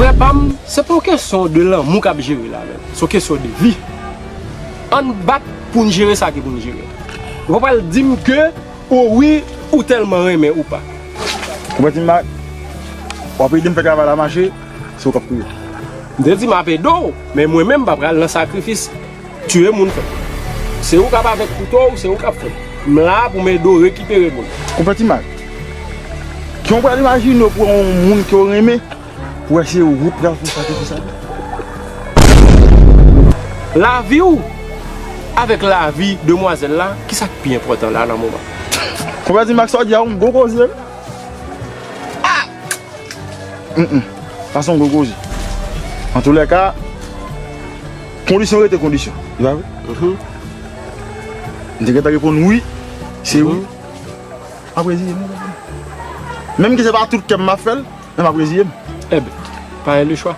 Frè pam, se pa yon kesyon de lanmou kap jere la menm, se yon kesyon de vi. Ann bat poun jere sa ki poun jere. Ou pa pral dim ke o wi ou telman renmen ou pa. Ou pa dim ma, wap edem fè travay la mache, se ou kap kriye. M te di map ede'w, men mwen menm m pa pral nan sakrifis. Tuye moun frem. Se ou kap avek kouto ou se ou kap fem. M la pou m ede w rekipere moun. Ou fè ti mal. Ki ou pral imajine ou pran yon moun ke ou renmen pou wè se ou pral fè sakrifis avè l. Lavi ou avèk lavi demwazèl la ki sa k pi enpòtan la nan moman. Konpè ti mak sa w di a yon gwo koze wi. Ahh. Sa son gwo koze. Antoulèka. Kondisyon rete kondisyon. Epa vre? Mhmm. M te gentan reponn wi. Se wi. Map reziye m. Menm ke se pa tout kèm map fèl, men map reziye m. Ebn, pa e le chwa.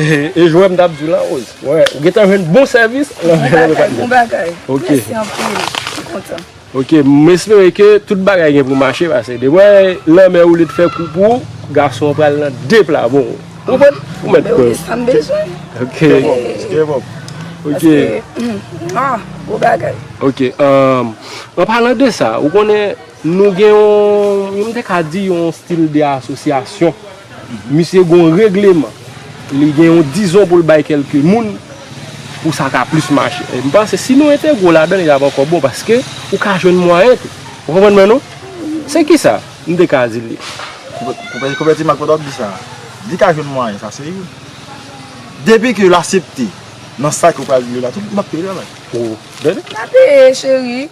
E jwè m tap di w la Rose. Wè ou gentan jwenn bon sèvis nan men yon lòt. Bon bagay, bon bagay. Mèsi anpil. M kontan. Ok, m espere ke tout bagay gen pou mache pase depi wè lanmè woule t fè kou pou ou, gason an pral nan de pla bon. Ou konprann? Ou mèt kwè. Mwen gen sa m bezwen. Ok. Step up. Ok. Paske, mwah, bon bagay. Ok, anpalan de sa, ou konnen. Nou gen yon, m te ka di yon stil de asosyasyon. Misye gen yon regleman. Li gen yon dizon pou l bay kelke moun pou sa ka plis mache. M panse si nou entegre ladan li ap ankò bon paske ou ka jwenn mwayen tou. Ou konprann mwen non? Se ki sa m te ka di li. Konpèti Mak pandan w ap di sa, li ka jwenn mwayen sa se youn. Depi ke l asepte nan sa ke w pral di li la tou, li ap peye travay. Ou tande? L ap peye cheri.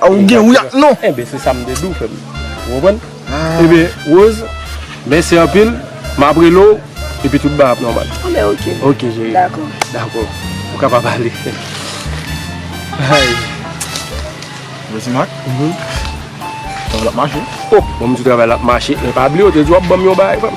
A ou gen wi ak non. Enben se sa m te di w frè m. Ou konprann? Enben Rose, mèsi anpil. M ap rele w epi tout bagay ap nòmal. Anben oke. Oke cheri. Dakò. Dakò. Ou kapab ale. Ayy. Rose Marc. Travay la ap mache. O! Bon m di w travay la ap mache men pa bliye w te di w ap ban m yon bagay frè m.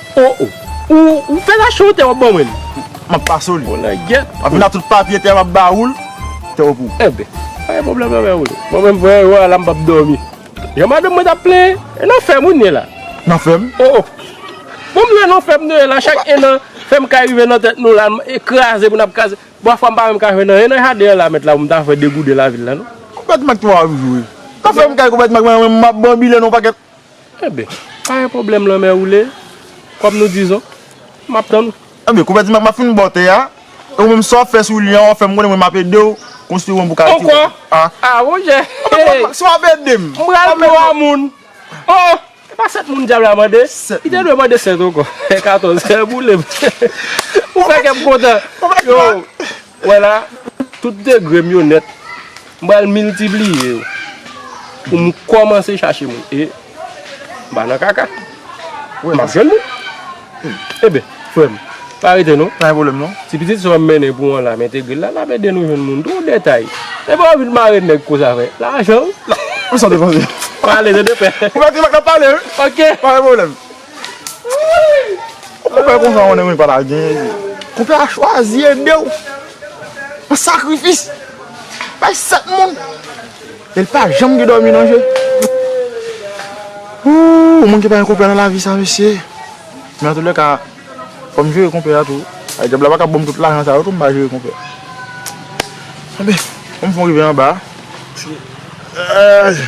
Oh oh ou fè rache yon tè wap ban mwen li. Map pase w li. Bon langyèt. Map vin ak tout papye tè map ba oul tè w pou. Enben pa gen pwoblèm nan men oul. Mwen menm voye yo ala mpap domi. Jan madanm mwen tap plenyen. E nan fèm ou n ye la. Nan fèm. Oh oh bon m lwe nan fèm nou ye la chak enan fèm kay rive nan tèt nou la e kraze pou nap kraze bon afwa mpa menm ka jwe nan enan jaden an la mèt la pou m ta fè degoude lavil la non. Konpètman k twa jou wi. Nan fèm kay konpètman k mwen menm map banbile nan yon pakèt. Enben, pa gen pwoblèm lanmè woule, kòm nou dizon, m ap tann ou. Enben, konpè Timak, m ap fin ba w tè a, e ou menm sa w ap fè sou li an, w ap fè m konnen mwen m ap ede w konstwi won pou w ka retire tè a. Ankò? A bon jè! Enben, konpè Timak, si w ap ede m, w ap ede m. M pral twa moun. O! E pa sèt moun dyab la mande? Sèt moun. Li te dwe mande sèt ankò. Katòz. Boule m. Ou fè kè m kontan. Konpè Timak! Ou wè la, tout degre m yo nèt, m pral miltipliye yo pou m kòmanse chache moun. E, m pa nan kaka. M ap jwenn moun. Enben, frè m, pa rete non. Pa gen pwoblèm non. Ti pitit sa w m mennen pou w an la, m entegre l la, l ap ede nou jwenn moun. Twòp detay. E pa w vin mare nèg konsa vre. Lajan w. Ou santi konsi. Pale, se de pè. Ou mèt, n ap pale wi. Ok. Pa gen pwoblèm. Konpè konsa ou konnen mwen pa ta genyen li. Konpè a chwazi ede ou an sakrifis. Bay 7 moun e li pa janm gen dòmi nan je. Ooh moun ki pa gen konpè nan lavi sa mesye. Men an tout lè ka fò m jere konpè a tou. Ay dyab la pa ka banm tout lajan sa yo tou m pa jere konpè. Anben fò m fon rive anba. Ayy.